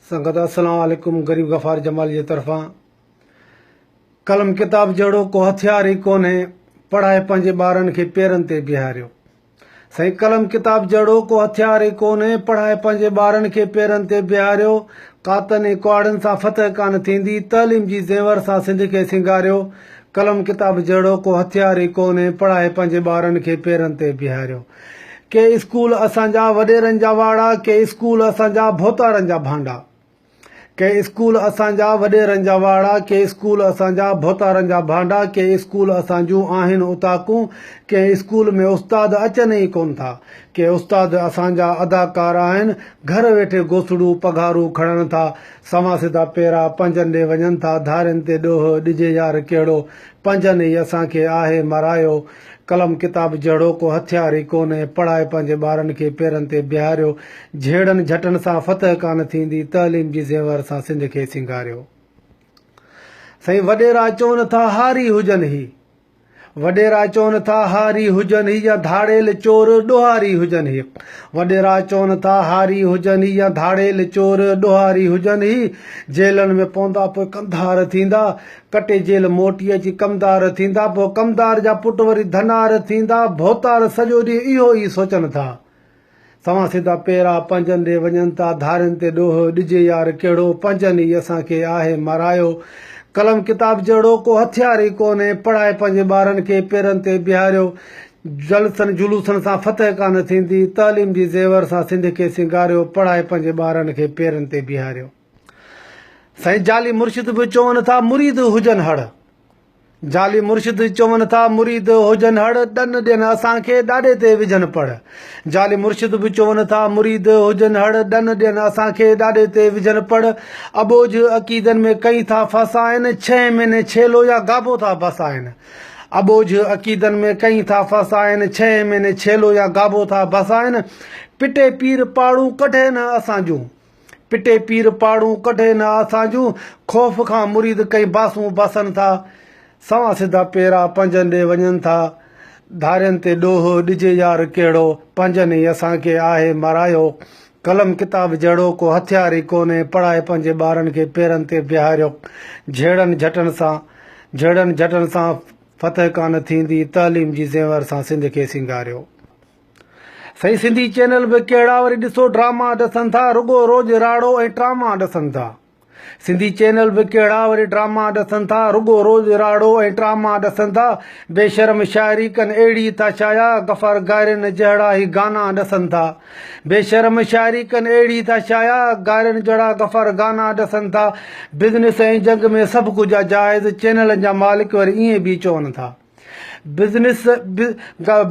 سنگت السلام عليڪم غريب غفار جمالي جي طرفان قلم ڪتاب جهڙو ڪو هٿيار ئي ڪونهي پڙهائي پنهنجي ٻارن کي پيرن تي بيهاريو سائين قلم ڪتاب جهڙو ڪو هٿيار ئي ڪونهي پڙهائي پنهنجي ٻارن کي پيرن تي بيهاريو قاتن ۽ ڪهاڙن سان فتح ڪانه ٿيندي تعليم جي زينور سان سنڌ کي سينگاريو قلم ڪتاب جهڙو ڪو هٿيار ئي ڪونهي پڙهائي پنهنجي ٻارن کي پيرن تي بيهاريو ڪي اسڪول اسان جا وڏيرن جا واڙا، ڪي اسڪول اسان جا ڀوتارن جا ڀانڊا. ڪي اسڪول اسان جا وڏيرن جا واڙا، ڪي اسڪول اسان جا ڀوتارن جا ڀانڊا، ڪي اسڪول اسان جون آهن اوطاقون، ڪنهن اسڪول ۾ استاد اچن ئي ڪونه ٿا، ڪي استاد اسان جا اداڪار آهن، گهر ويٺي گوسڙون پگهارون کڻن ٿا، سوان سڌا پيرا پنهنجن ڏي وڃن ٿا، ڌارين تي ڏوهه ڏجي يار ڪهڙو، پنهنجن ئي اسان کي آهي مرايو. قلم ڪتاب جهڙو ڪو هٿيار ئي ڪونهي. پڙهائي پنهنجي ٻارن کي پيرن تي بيهاريو. جهيڙن جهٽن سان فتح ڪانه ٿيندي. تعليم جي زيور سان سنڌ کي سينگاريو. سائين وڏيرا چون ٿا هاري هجن هي. وڏيرا چون ٿا هاري هجن هي يا ڌاڙيل چور ڏوهاري هجن هي. وڏيرا چون ٿا هاري هجن هي يا ڌاڙيل چور ڏوهاري هجن هي. جيلن ۾ پوندا پوء ڪنڌار ٿيندا. ڪٽي جيل موٽي اچي ڪمدار ٿيندا، پوء ڪمدار جا پٽ وري ڌنار ٿيندا. ڀوتار سڄو ڏينهن اهو ئي سوچن ٿا. سوان سڌا پيرا پنهنجن ڏي وڃن ٿا. ڌارين تي ڏوهه ڏجي يار ڪهڙو، پنهنجن ئي اسان کي آهي مارايو. قلم ڪتاب جهڙو ڪو هٿيار ئي ڪونهي. پڙهائي پنهنجي ٻارن کي پيرن تي بيهاريو. جلسن جلوسن سان فتح ڪانه ٿيندي. تعليم جي زيور سان سنڌ کي سينگاريو. پڙهائي پنهنجي ٻارن کي پيرن تي بيهاريو. سائين جعلي مرشد به چون ٿا مريد هجن هڙ. جعلي مرشد چون ٿا مريد هجن هڙ ڏن ڏين اسان کي ڏاڏي تي وجهن پڙ. جعلي مرشد به چون ٿا مريد هجن هڙ ڏن ڏين اسان کي ڏاڏي تي وجهن پڙ. اٻوجهه عقيدن ۾ ڪئين ٿا ڦاسائين ڇهين مهيني ڇيلو يا گابو ٿا بسائين. اٻوجهه عقيدن ۾ ڪئين ٿا ڦاسائين ڇهين مهيني ڇيلو يا گابو ٿا بسائين. پٽي پير پاڙون ڪڍين اسان جون. پٽي پير پاڙون ڪڍي نه آسان جون، خوف کان مريد ڪئين باسون باسن ٿا، سوان سڌا پيرا پنهنجن ڏي وڃن ٿا، ڌارين تي ڏوهه ڏجي يار ڪهڙو، پنهنجن ئي اسان کي آهي مرايو، قلم ڪتاب جهڙو ڪو هٿيار ئي ڪونهي، پڙهائي پنهنجي ٻارن کي پيرن تي بيهاريو، جهيڙن جهٽن سان جهيڙن جهٽن سان فتح ڪانه ٿيندي، تعليم جي زينور سان سنڌ کي سينگاريو. سائين سنڌي چينل به ڪهڙا وري ڏسو ڊراما ڏسن ٿا رڳو روز راڙو ۽ ٽراما ڏسن ٿا سنڌي چينل به ڪهڙا وري ڊراما ڏسن ٿا رڳو روز راڙو ۽ ٽراما ڏسن ٿا بي شرم شاعري ڪن اهڙي ٿا شايا غفار گارين جهڙا هي گانا ڏسن ٿا بي شرم شاعري ڪن اهڙي ٿا شايا گارين جهڙا غفار گانا ڏسن ٿا بزنس ۽ جنگ ۾ سڀ ڪجهه جائز چينلن جا مالڪ وري ائين به چون ٿا بزنس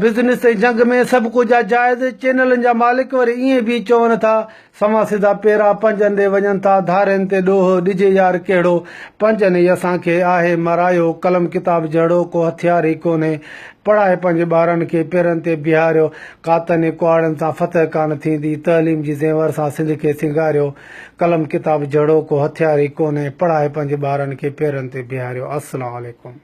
بزنس ۽ جنگ ۾ سڀ ڪجهه آ جائز. چينلن جا مالڪ وري ائين به چون ٿا سوان سڌا پيرا پنجن ڏي وڃن ٿا ڌارين تي ڏوهه ڏجي يار ڪهڙو پنجن ئي اسان کي آهي مرايو قلم ڪتاب جهڙو ڪو هٿيار ئي ڪونهي پڙهائي پنهنجي ٻارن کي پيرن تي بيهاريو ڪاتن ۽ ڪهاڙن سان فتح ڪانه ٿيندي تعليم جي زينور سان سنڌ کي سينگاريو قلم ڪتاب جهڙو ڪو هٿيار ئي ڪونهي پڙهائي پنهنجي ٻارن کي پيرن تي بيهاريو السلام عليڪم.